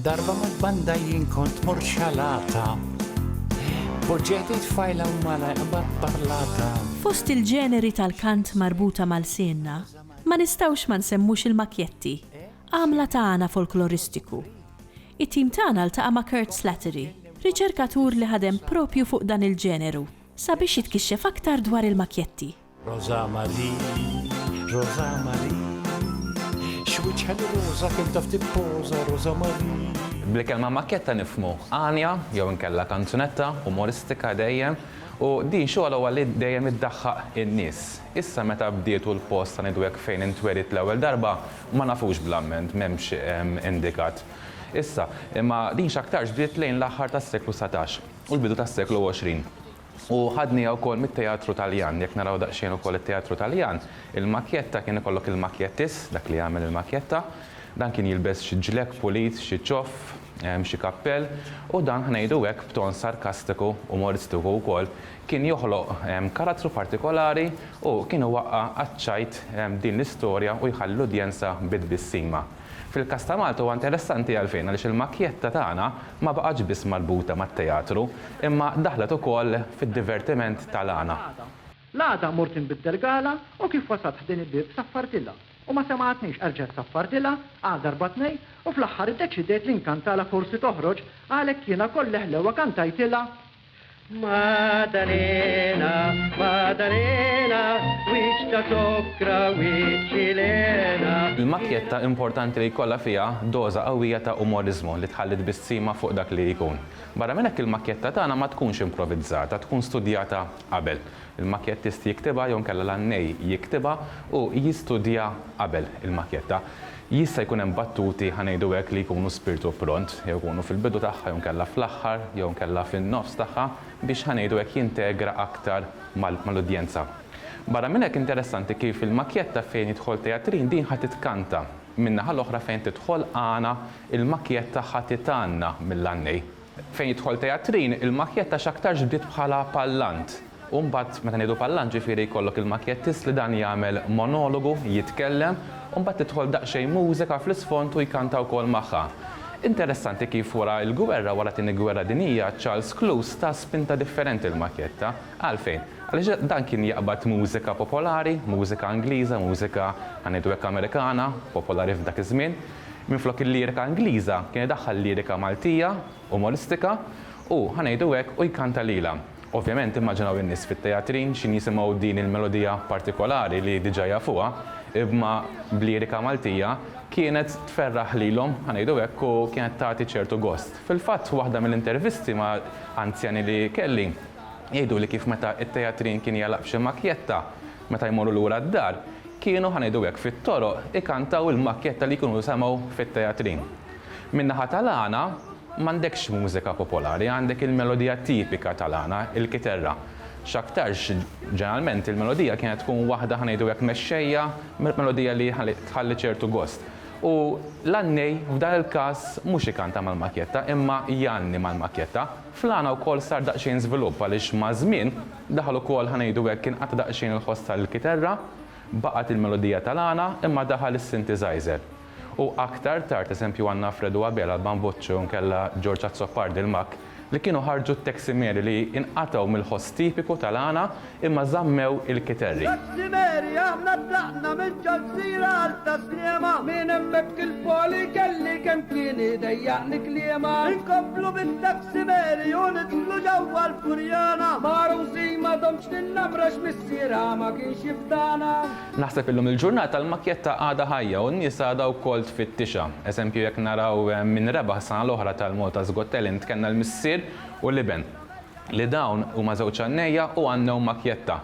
Darba ma banda jien kont morxalata Poġġeti tfajla u mala iqbad parlata Fost il-ġeneri tal-kant marbuta mal-sienna ma nistgħux ma nsemmux il-makjetti Għamla ta' għana folkloristiku. It-tim tagħna ltaqa' ma' Kurt Slattery, riċerkatur li ħadem proprju fuq dan il-ġeneru, sabiex jitkixxef aktar dwar il-makjetti. Roża Marie, Roża Marie, x'wiċċha li roża kemm taf tippoża Roża Marie. Bl-kelma makjetta nifhmu għanja jew inkella kanzunetta umoristika dejjem u din xogħolha li dejjem iddaħħaq in-nies. Issa meta bdiet u l-post ta' Nidwek fejn intwelidt l-ewwel darba Ma nafux bl-amment, m'hemmx indikat issa, imma din x'aktarx bdiet lejn l-aħħar tas-seklu satax u l-bidu tas-seklu għoxrin. U ħadniha wkoll mit-teatru Taljan. Jekk naraw daqsxejn ukoll it-teatru Taljan, il-makjetta kien ikollok il-makjettist, dak li jagħmel il-makjetta, dan kien jilbes xi ġlekk pulit, xi ċoff, xi kappell, u dan, ħa ngħidu hekk b'ton sarkastiku, umoristiku wkoll, Kien joħloq karattru partikolari u kien iwaqqa' għaċ-ċajt din l-istorja u jħalli l-udjenza bi tbissima. Fil-każ ta' Malta huwa interessanti għalfejn? Għaliex il-makjetta tagħna ma baqgħetx biss marbuta mat-teatru imma daħlet ukoll fid-divertiment tal-għana. L-għada mort inbiddel gala u kif wasalt ħdejn il-bieb saffartilha u ma semgħatnix erġgħet saffartilha għal darba tnejn u fl-aħħar iddeċidejt li nkantalha forsi toħroġ għalhekk jiena koll leħlewa kantajtilha Maddalena, Maddalena, wiċċ ta' zokkra, wiċċ ħilena. Il-makkjetta importanti li jkollha fiha doża qawwija ta' umoriżmu li tħalli tbissima fuq dak li jkun. Barra minn hekk il-makkjetta tagħna ma tkunx improvizzata, tkun studjata qabel. Il-makjettist jiktibha jew inkella l-għannej jiktibha u jistudja qabel il-makjetta. Jista' jkun hemm battuti, ħa ngħidu hekk, li jkunu spirtu pront, jew ikunu fil-bidu tagħha jew inkella fl-aħħar jew inkella fin-nofs tagħha biex, ħa ngħidu hekk, jintegra aktar mal-udjenza. Barra minn hekk interessanti kif il-makjetta fejn jidħol Teatrin din ħa titkanta. Min-naħa l-oħra fejn tidħol Għana, il-makjetta ħa titgħanna mill-għannej. Fejn jidħol teatrin, il-makjetta x'aktarx bdiet bħala pallant. U mbagħad, meta ngħidu pallant ġifieri jkollok il-makjettist li dan jagħmel monologu, jitkellem, u mbagħad tidħol daqsxejn mużika fl-isfond u jkanta wkoll magħha. Interessanti kif wara l-gwerra, wara t-Tieni Gwerra Dinjija, Charles Cluse ta spinta differenti l-makjetta. Għalfejn? Għaliex dan kien jaqbad mużika popolari, mużika Ingliża, mużika, ħa ngħidu hekk Amerikana, popolari f'dak iż-żmien. Minflok il-lirika Ingliża kien idaħħal lirika Maltija, umoristika u, ħa ngħidu hekk, u jkanta lilha. Ovvjament immaġinaw in-nies fit-teatrin x'in jisimgħu din il-melodija partikolari li diġà jafuha, imma b'lirika Maltija, kienet tferraħ lilhom, ħa ngħidu hekk, u kienet tagħti ċertu gost. Fil-fatt, waħda mill-intervisti ma' anzjani li kelli, jgħiduli kif meta t-teatrin kien jagħlaq f'xi makjetta, Meta jmorru lura d-dar, kienu, ħa ngħidu hekk, fit-toroq ikantaw il-makkjetta li jkunu semgħu fit-teatrin. Min-naħa tal-għana, m'għandekx mużika popolari, għandek il-melodija tipika tal-għana, il-kiterra. X'aktarx, ġeneralment, il-melodija kienet tkun waħda, ħa ngħidu hekk, mexxejja, melodija li tħalli ċertu gost. U l-għannej, f'dan il-każ, mhux ikanta mal-makkjetta, imma jgħanni mal-makkjetta. Fl-għana wkoll sar daqsxejn żvilupp għaliex maż-żmien, Daħal ukoll, ħa ngħidu hekk, inqata' daqsxejn il-ħoss tal-kiterra, baqgħet il-melodija tal-għana, imma daħal is-synthesizer. U aktar tard, eżempju, għandna Alfredo Abela, l-Ban Voce, u nkella George Azzopardi, l-Makk, li kienu ħarġu t-Teximeri li inqatgħu mill-ħoss tipiku tal-għana imma żammew il-kiterri. Teximeri, aħna tlaqna mill-Ġolsiera għal Ta' Sliema. Minn hemmhekk 'il fuq li kelli kemm kien idejjaqni kliema. Inkomplu bit-Teximeri. Sibeli u nidħlu ġewwa l-Furjana. Magħrusi m'għadhomx l-innamra x'missierha ma kienx jifdana. Naħseb illum il-ġurnata l-makkjetta għadha ħajja u n-nies għadha wkoll tfittixha. Eżempju jekk naraw min rebaħ s-sena l-oħra tal-Malta's Got Talent kellna l-missier u l-iben li dawn huma żewġ għannejja u għannew makkjetta.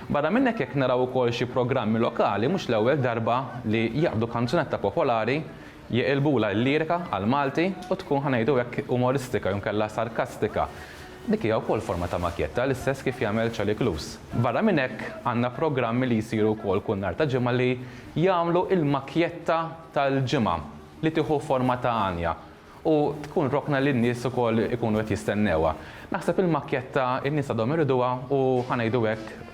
Barra minn hekk jekk naraw ukoll xi programmi lokali mhux l-ewwel darba li jaqbdu kanzunetta popolari Jeqilbulha l-lirika għall-Malti u tkun, ħa ngħidu hekk, umoristika jew inkella sarkastika. Dik hija wkoll forma ta' makjetta, l-istess kif jagħmel Charlie Cluse. Barra minn hekk, għandna programmi li jsiru wkoll kull nhar ta' Ġimgħa li jagħmlu l-makjetta tal-ġimgħa li tieħu forma ta' għanja u tkun rokna li n-nies ukoll ikunu qed jistennewha. Naħseb il-makjetta n-nies għadhom iriduha u, ħa ngħidu hekk,